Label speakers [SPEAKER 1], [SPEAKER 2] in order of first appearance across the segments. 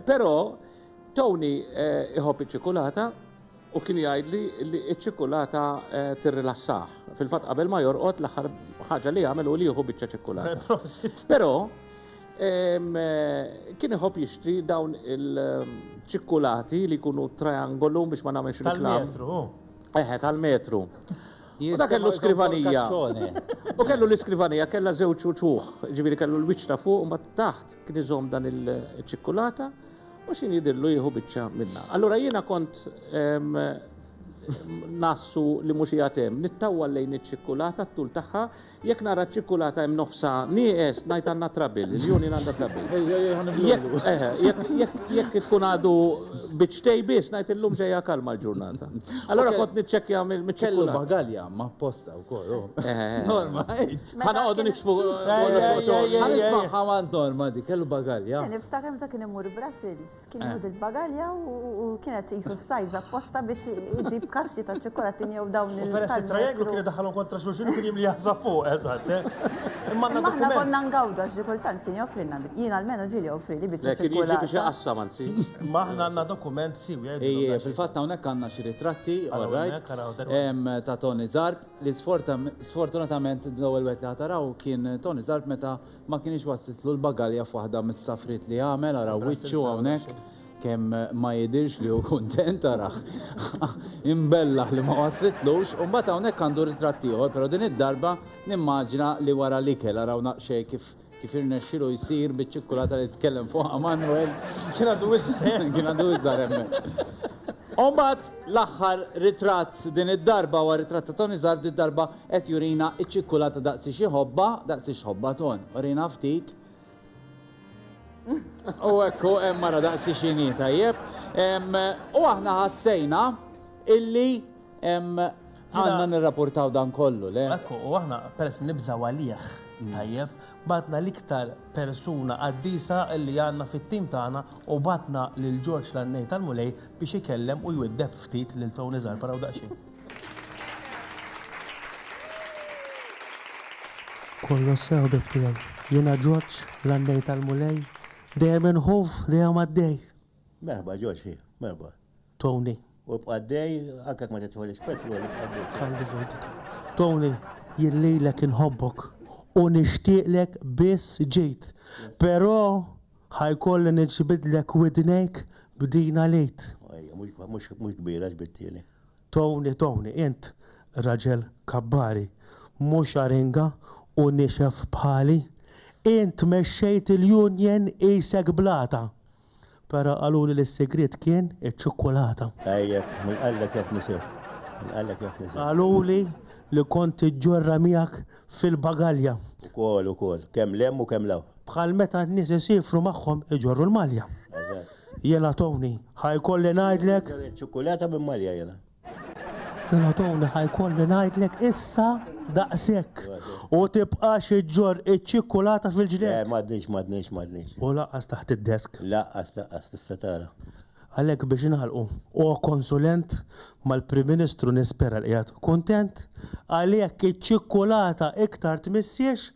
[SPEAKER 1] Però Tony eh, iħobb iċ-ċikulata u kien jgħid li li ċ-ċikulata eh, tirrilassah. Fil-fatt qabel ma jorqod l-aħħar ħaġa li jagħmel u li jieħu biċċa ċikulata. Però eh, kien iħobb jixtri dawn il-ċikulati li jkunu triangolu biex ma nagħmilx il-metru. Eħe,
[SPEAKER 2] tal-metru.
[SPEAKER 1] U ta' kellu skrivanija. U kellu l-iskrivanija, kellha żewġ uċuħ, ġifieri kellu l-wiċċ ta' fuq u ma taħt kien iżomm dan il-ċikkulata u xin jidillu jieħu biċċa minna. Allura jiena kont nassu li mhux jatem, nittawwa lejn iċ-ċikkulata t-tul tagħha Jekk nara ċ-ċikkulata hemm nofsha nieqes, ngħid għandna trouble, il-union għandha trouble. Jekk tkun għadu biċċtej biss, ngħid illum ġejja kalma l-ġurnata. Allura kont niċċekkja mill-ċikkulata. Kellu bagalja ma'
[SPEAKER 3] posta wkoll hu. Norma, għid. Ħa noqogħdu
[SPEAKER 1] niksbu kollox fuq Norma. Ħa nismagħha
[SPEAKER 3] mant Norma dik, kellu bagalja. Niftakar meta kien imur
[SPEAKER 4] Brussels. Kien jgħud il-bagalja u kienet jisu s-sajz apposta biex iġib kaxxi ta' ċokkolatin jew dawn il Peress li trajeglu kien daħalhom
[SPEAKER 2] kontra xulxin u kien jimli jaħsab fuq, eżatt. Eh? Imma għandna dokument. konna ngawdu
[SPEAKER 4] għax xi kultant kien joffrilna bit. Jien almenu ġieli joffrili bit. Kien jiġi biex jaqassam
[SPEAKER 1] anzi.
[SPEAKER 4] Ma
[SPEAKER 1] aħna għandna
[SPEAKER 2] dokument siwi jgħidu. Ejja, fil-fatt hawnhekk
[SPEAKER 3] għandna xi ritratti, all right. Ta' Tony Zarb li sfortunatament l-ewwel wieħed li ħataraw kien Tony Zarb meta Ma kinitx waslitlu l-bagalja f'waħda mis-safriet li għamel, araw wiċċu hawnhekk, kemm ma jidhirx li hu kuntent, arah imbellaħ li ma waslitlux, u mbagħad hawnhekk għandu ritratt ieħor, però din id-darba nimmaġina li wara l-ikel, araw naqxej kif kif irnexxielu jsir biċ-ċikkulata li tkellem fuqha Manwel. Kien għadu iżgħar hemmhekk. Kien għadu iżgħar hemmhekk. U mbagħad l-aħħar ritratt din id-darba huwa ritratt ta' Toni Zarb, din id-darba Qed jurina ċ-ċikkulata daqsiex iħobbha, daqsiex tħobbha Ton. Urina ftit. U hekk hu hemm mara daqsiex inhi tajjeb. Em, U aħna ħassejna illi em, għandna nirrapportaw dan kollu, le? Ekku, u aħna peress
[SPEAKER 2] nibżaw għalih, tajjeb, batna l-iktar persuna qaddisa li għandna fit-tim tagħna u batna lil Ġorġ l-għannej tal-Mulej biex ikellem u jwiddeb ftit lil Tony Zarpara u daqsxejn.
[SPEAKER 5] Kollox sew ħbieb tiegħi. Jiena Ġorġ, l-għannej tal-Mulej, dejjem inħoff, dejjem għaddej. Merħba Ġorġ,
[SPEAKER 6] merħba. Tony.
[SPEAKER 5] U bqaddej,
[SPEAKER 6] anke ma titħolix petrol, bqaddej. Ħalli vejdita.
[SPEAKER 5] Tony, jillilek inħobbok u nixtieqlek biss ġid. Però ħajkolli niġbidlek widnejk b'din għalejt.
[SPEAKER 6] Mhux kbira ġbidtieni. Tony, Tony,
[SPEAKER 5] int raġel kabbari, mhux aringa u niexef bħali. Int mexxejt il-union qisek blata. Però qaluli li s-sigriet kien iċ-ċukkulata. Tajjeb, min
[SPEAKER 6] qallek jaf nisir, min qallek jaf nisir. Qaluli
[SPEAKER 5] li kont tiġġorra miegħek fil-bagalja. Ukoll, ukoll,
[SPEAKER 6] kemm 'l hemm u kemm 'l hawn. Bħal meta n-nies
[SPEAKER 5] isiefru magħhom iġorru l-malja. Eżatt. Jiena Tony, ħa jkolli ngħidlek. Nixtri lil ċ-ċukkulata minn malja
[SPEAKER 6] jiena. Jiena
[SPEAKER 5] Tony, ħa jkolli ngħidlek issa daqshekk. U tibqax iġġorr iċ-ċikkulata fil-ġneb. Le, m'għadniex, m'għadniex, m'għadniex.
[SPEAKER 6] U lanqas taħt
[SPEAKER 5] id-desk. Lanqas, lanqas, tista'
[SPEAKER 6] tara. Għalhekk biex
[SPEAKER 5] nagħlqu, O Konsulent, mal-Prim Ministru nispera li qiegħed kuntent għal jekk iċ-ċikkulata iktar tmissiex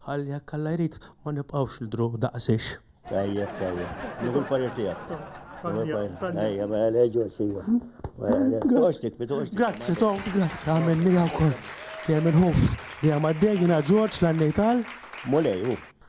[SPEAKER 5] ħalli jekk Alla jrid ma nibqgħux nidhru daqsiex. Tajjeb,
[SPEAKER 6] tajjeb. Nieħu l-parir tiegħek. Nieħu l-parir. Ejja, mela le ġost ejja. Mela, Toqgħodx tikbi, toqgħodx tikbi.
[SPEAKER 5] Grazzi Tom, grazzi għamel miegħi wkoll. Dejjem inħoss li hemm għaddej jiena
[SPEAKER 6] Ġorġ
[SPEAKER 5] l-għannejtal. Mulej, hu.